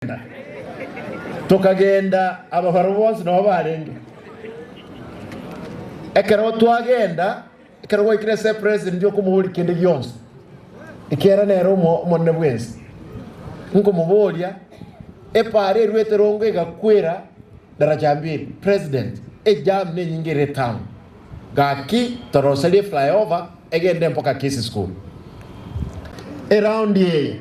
Tokagenda, tokagenda, ababarwa bonsi nao barenge. Ekero twagenda, ekero gwaikire ase epreseni ndiokomoboria kende gionsi, ekiagera nere omo- omonene bwensi. Nkomoboria, epaara eruete rongo egakwera daraja mbiri, president, ejam nenyinge ere town. Gaki toroserie flyover egende mpaka Kisii school. Eroundi eye.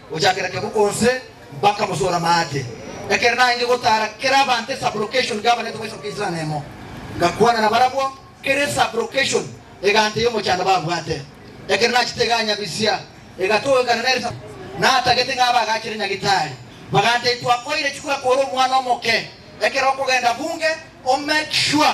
Gochakera ekero bonse bakamosoora amache, ekero naenge gotaara kera abanto esublocation gabarete goisoroka isana emo, ngakwana nabarabwo kera esublocation egante y'omochando babwate. Ekero nachete iga Nyabisia egatogekana nere sa natagete ng'a abagachire Nyagitari bagante, Twakoire chikura kore omwana omoke ekero okogenda bunge o make sure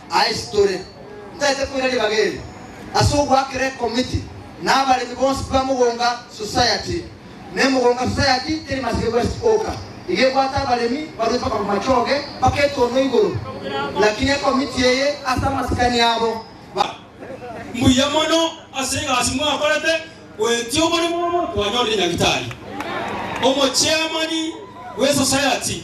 Aye titore ntaete koira ribaga eri ase ogoakera ekomiti na abaremi bonsi ba Mugunga Society ne Mugunga Society teri Masike West oka iga ebwate abaremi barue mpaka bamachoge mpaka etono igoro lakini ekomiti eye ase amasikani abo ba Mbuya mono ase egasi mwakorete goetia oboremo obo twanyorire Nyagitari omocheamani bwe Society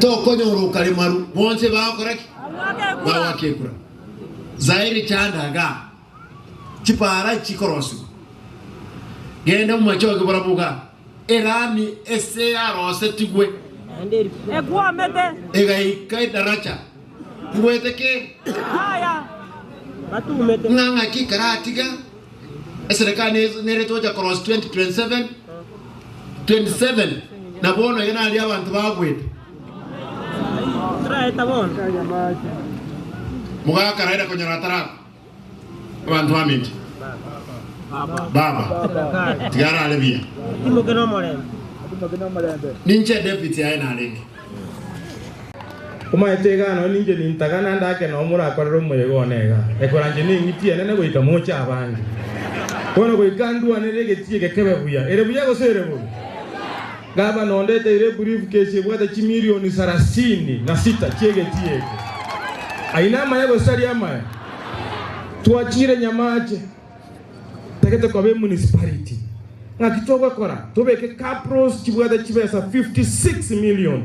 Tokonyora okaremaru, bonsi bagokora ki? Bagoaka ekura. Zaire chanda igaa, chipara chikorosiwa. Genda omomachoge barabwo igaa, erami ese yarosetigwe, egaika edaracha Ngwetekeire ng'a ng'aki karatiga eserekani eye nere tocha korosia 2027, 27 na bono iga naria abanto bagwete. Mogakaraera konyora atarako. Abanto bamenche Baba, tiga arare buya. Atimoke nomorembe. Ninche David yaye narenge. Omaete egano ninche nintaga naende ake nao morakorere omoyega one iga, ekoranche neng'iti enene goika moche abange. Bono goika ndwanere egetie gekebe buya. Ere buya gose ere bobe? Gavana onde eteire eburifukesi ebwate chimilioni sarasini na sita chi'egetii eke. Ayio namaya gose aria amaya? Twachiire Nyamache, totagete koba emunisipariti. Ng'aki togokora? Tobeke caprals chibwate chibesa fifty six milioni.